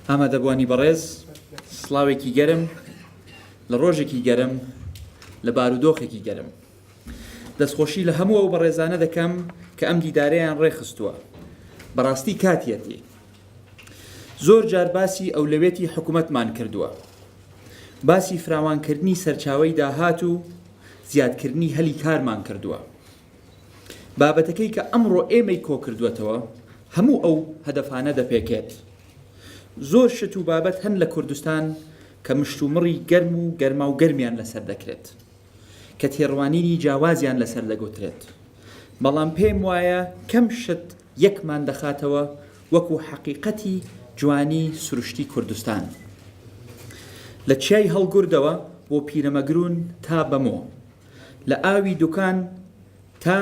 ئامادەبوانی بەڕێز سڵاوێکی گەرم لە ڕۆژێکی گەرم لە بارودۆخێکی گەرم دەستخۆشی لە هەموو ئەو بەڕێزانە دەکەم کە ئەم دیدارەیان ڕێخستووە بەڕاستی کاتیەتی زۆر جار باسی ئەولەوێتی حکوومەتمان کردووە باسی فراوانکردنی سەرچاوی داهات و زیادکردنی هەلی کارمان کردووە بابەتەکەی کە ئەمڕۆ ئێمەی کۆکردووەتەوە هەموو ئەو هەدەفانە دەپێکێت. زۆر شت و بابەت هەن لە کوردستان کە مشتومڕی گەرم و گەرماو گەرمیان لەسەر دەکرێت، کە تێڕوانینی جیاوازیان لەسەر دەگوترێت، بەڵام پێم وایە کەم شت یەکمان دەخاتەوە وەکو حەقیقەتی جوانی سروشتی کوردستان. لە چیای هەڵگوردەوە بۆ پیرەمەگرون تا بەمۆ. لە ئاوی دوکان تا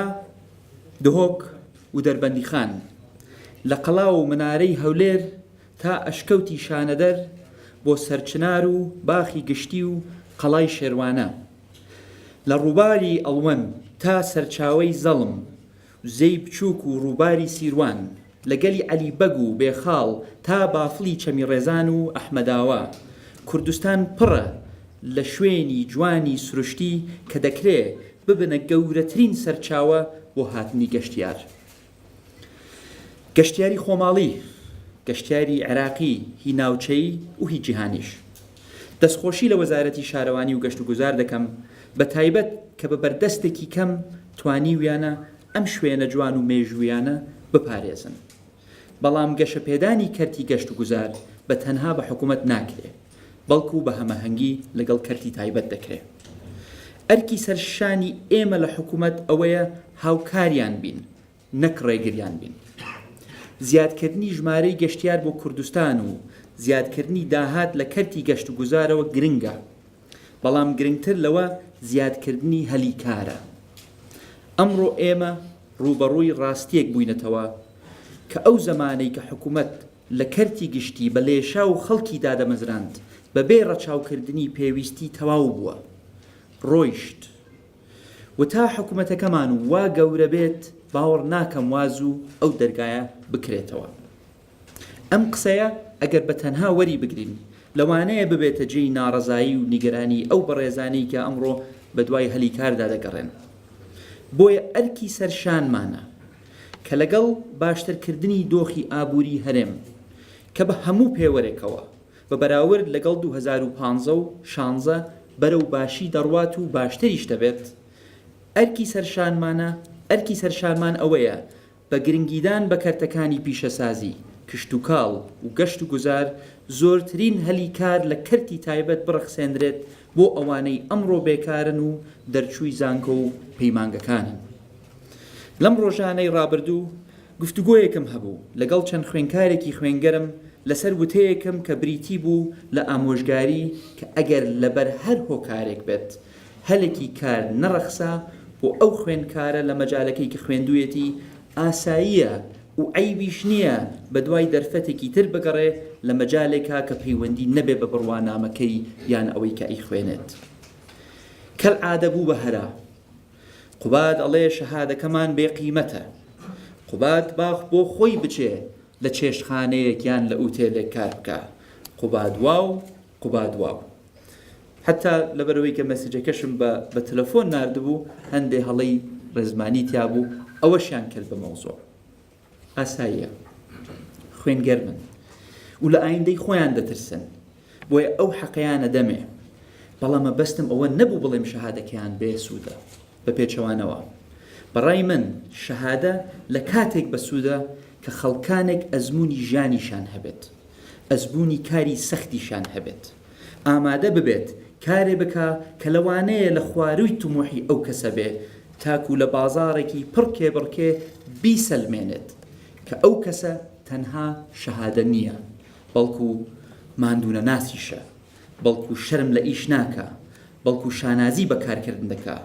دهۆک ودەربەندیخان، لە قەڵا و منارەی هەولێر تا ئەشکەوتی شانەدەر بۆ سەرچنار و باخی گشتی و قەڵای شێروانە، لە ڕووباری ئەڵوەن تا سەرچاوەی زەڵم، زێی بچووک و ڕووباری سیروان، لە گەلی عەلی بەگ و بێخاڵ تا بافڵی چەمی ڕێزان و ئەحمەداوا، کوردستان پڕە لە شوێنی جوانی سروشتی کە دەکرێ ببنە گەورەترین سەرچاوە بۆ هاتنی گەشتیار. گەشتیاری خۆماڵی، گەشتیاری عێراقی، هی ناوچەیی و هی جیهانیش. دەستخۆشی لە وەزارەتی شارەوانی و گەشتوگوزار دەکەم بە تایبەت کە بە بەردەستێکی کەم توانیویانە ئەم شوێنە جوان و مێژوویانە بپارێزن. بەڵام گەشەپێدانی کەرتی گەشتوگوزار بە تەنها بە حکومەت ناکرێ بەڵکو بە هەمەهەنگی لەگەڵ کەرتی تایبەت دەکرێ. ئەرکی سەرشانی ئێمە لە حکومەت ئەوەیە هاوکاریان بین نەک ڕێگریان بین. زیادکردنی ژمارەی گەشتیار بۆ کوردستان و زیادکردنی داهات لە کەرتی گەشتوگوزارەوە گرنگە، بەڵام گرنگتر لەوە زیادکردنی هەلی کارە. ئەمڕۆ ئێمە ڕووبەڕووی ڕاستییەک بووینەتەوە کە ئەو زەمانەی کە حکومەت لە کەرتی گشتی بە لێشاو خەڵکی دادەمەزراند بەبێ ڕەچاوکردنی پێویستی تەواو بووە ڕۆیشت. و تا حکومەتەکەمان وا گەورە بێت باوەڕ ناکەم وا زوو ئەو دەرگایە بکرێتەوە. ئەم قسەیە ئەگەر بە تەنها وەری بگرین لەوانەیە ببێتە جێی ناڕەزایی و نیگەرانی ئەو بەڕێزانەی کە ئەمڕۆ بە دوای هەلی کاردا دەگەڕێن. بۆیە ئەرکی سەر شانمانە کە لەگەڵ باشترکردنی دۆخی ئابووری هەرێم کە بە هەموو پێوەرێکەوە بە بەراورد لەگەڵ دوو هەزار و پازدە و شانزە بەرەو باشی دەڕوات و باشتریش دەبێت، ئەرکی سەرشانمانە، ئەرکی سەرشانمان ئەوەیە بە گرنگیدان بە کەرتەکانی پیشەسازی، کشتوکاڵ و گەشت و گوزار زۆرترین هەلی کار لە کەرتی تایبەت بڕەخسێنرێت بۆ ئەوانەی ئەمڕۆ بێکارن و دەرچووی زانکۆ و پەیمانگەکانن. لەم ڕۆژانەی ڕابردوو، گفتوگۆیەکم هەبوو لەگەڵ چەند خوێنکارێکی خوێنگەرم لەسەر وتەیەکم کە بریتی بوو لە ئامۆژگاری کە ئەگەر لەبەر هەر هۆکارێک بێت هەلێکی کار نەڕەخسا بۆ ئەو خوێنکارە لە مەجالەکەی کە خوێندویەتی ئاساییە و عەیبیش نییە بەدوای دەرفەتێکی تر بگەڕێ لە مەجالێکا کە پەیوەندی نەبێ بە بڕوانامەکەی یان ئەوەی کە ئەیخوێنێت کەلعادە بوو بە هەرا قوباد ئەڵێ شەهادەکەمان بێ قیمەتە. قوباد با بۆ خۆی بچێ لە چێشتخانەیەک یان لە ئوتێلێک کار بکا. قوباد واو، قوباد واو. حەتتا لەبەرئەوەی کە مەسجەکەشم بە بە تەلەفۆن ناردبوو، هەندێ هەڵەی ڕێزمانی تیا بوو، ئەوەشیان کرد بە مەوزوع. ئاساییە خوێن گەرمن و لە ئایندەی خۆیان دەترسن بۆیە ئەو حەقەیانە دەمێ بەڵام مەبەستم ئەوە نەبوو بڵێم شەهادەکەیان بێسوودە بە پێچەوانەوە بەڕای من شەهادە لە کاتێک بەسوودە کە خەڵکانێک ئەزمونی ژیانیشان هەبێت ئەزبوونی کاری سەختیشان هەبێت ئامادە ببێت کارێ بکا کە لەوانەیە لە خوارووی تموحی ئەو کەسە بێ تاکوو لە بازاڕێکی پڕ کێبڕکێ بیسەلمێنێت کە ئەو کەسە تەنها شەهادە نییە بەڵکوو ماندوونەناسیشە بەڵکوو شەرم لە ئیش ناکا بەڵکوو شانازی بە کارکردن دەکا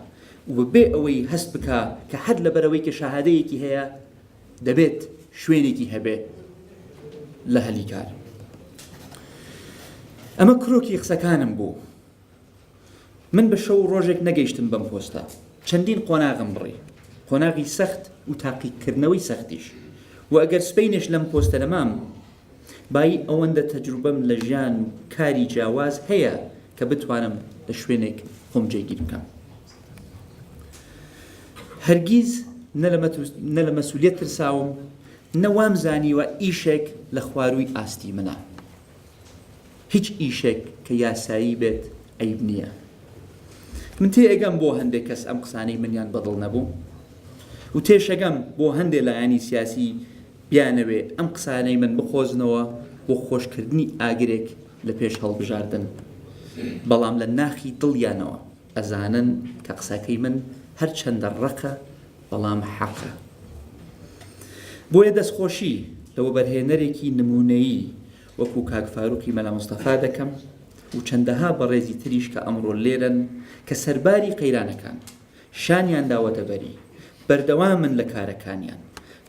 و بێ ئەوەی هەست بکا کە هەر لەبەرئەوەی کە شەهادەیەکی هەیە دەبێت شوێنێکی هەبێ لە هەلی کار ئەمە کرۆکی قسەکانم بوو من بە شەو ڕۆژێک نەگەیشتم بەم پۆستە چەندین قۆناغم بڕی قۆناغی سەخت و تاقیکردنەوەی سەختیش و ئەگەر سپینش لەم پۆستە دەمام بای ئەوەندە تەجروبەم لە ژیان و کاری جیاواز هەیە کە بتوانم لە شوێنێک خۆم جێگیر بکەم هەرگیز نە لە مەسولیت ترساوم نە وام زانیوە ئیشێک لە خوارووی ئاستی منە هیچ ئیشێک کە یاسایی بێت عیب نییە من تێ ئەگەم بۆ هەندێک کەس ئەم قسانەی منیان بەدڵ نەبوو و تێشەگەم بۆ هەندێک لایەنی سیاسی بیانەوێ ئەم قسانەی من بقۆزنەوە بۆ خۆشکردنی ئاگرێک لە پێش هەڵبژاردن بەڵام لە ناخی دڵیانەوە ئەزانن کە قسەکەی من هەرچەندە ڕەقە بەڵام حەقە. بۆیە دەستخۆشی لە وەبەرهێنەرێکی نموونەیی وەکوو کاک فاروقی مەلا مستەفا دەکەم و چەندەها بەڕێزی تریش کە ئەمڕۆ لێرەن کە سەرباری قەیرانەکان شانیان داوەتە بەری بەردەوامن لە کارەکانیان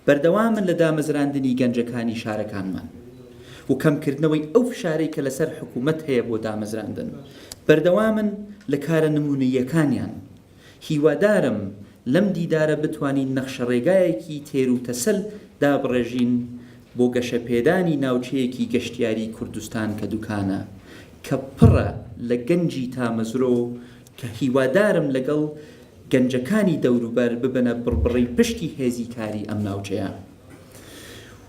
بەردەوامن لە دامەزراندنی گەنجەکانی شارەکانمان و کەمکردنەوەی ئەو فشارەی کە لەسەر حکوومەت هەیە بۆ دامەزراندن، بەردەوامن لە کارە نموونەییەکانیان. هیوادارم لەم دیدارە بتوانین نەخشەڕێگایەکی تێروتەسەل دابڕێژین بۆ گەشەپێدانی ناوچەیەکی گەشتیاریی کوردستان کە دوکانە، کە پڕە لە گەنجی تامەزرۆ و کە هیوادارم لەگەڵ گەنجەکانی دەوروبەر ببنە بڕبڕەی پشتی هێزی کاری ئەم ناوچەیە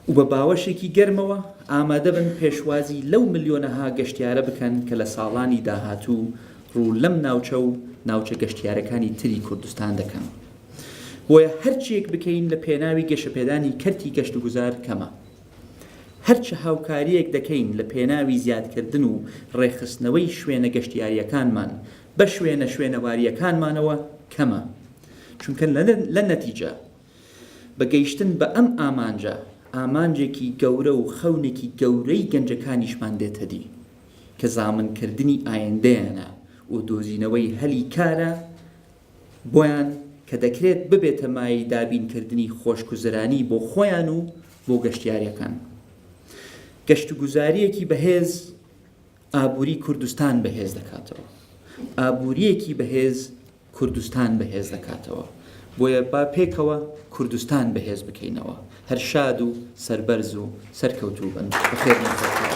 و بە باوەشێکی گەرمەوە ئامادە بن پێشوازی لەو ملیۆنەها گەشتیارە بکەن کە لە ساڵانی داهاتوو ڕوو لەم ناوچە و ناوچە گەشتیارەکانی تری کوردستان دەکەن بۆیە هەرچیەک بکەین لە پێناوی گەشەپێدانی کەرتی گەشتوگوزار کەمە هەر چ هاوکارییەک دەکەین لە پێناوی زیادکردن و ڕێکخستنەوەی شوێنە گەشتیارییەکانمان بە شوێنە شوێنەوارییەکانمانەوە کەمە، چونکە لە نەتیجە بە گەیشتن بە ئەم ئامانجە، ئامانجێکی گەورە و خەونێکی گەورەی گەنجەکانیشمان دێتەدی، کە زامنکردنی ئایندەیانە و دۆزینەوەی هەلی کارە بۆیان کە دەکرێت ببێتە مایەی دابینکردنی خۆشگوزەرانی بۆ خۆیان و بۆ گەشتیارەکان. گەشتوگوزارییەکی بەهێز ئابووری کوردستان بەهێز دەکاتەوە. ئابوورییەکی بەهێز کوردستان بەهێز دەکاتەوە. بۆیە با پێکەوە کوردستان بەهێز بکەینەوە. هەر شاد و سەربەرز و سەرکەوتوو بن. بەخێربێن.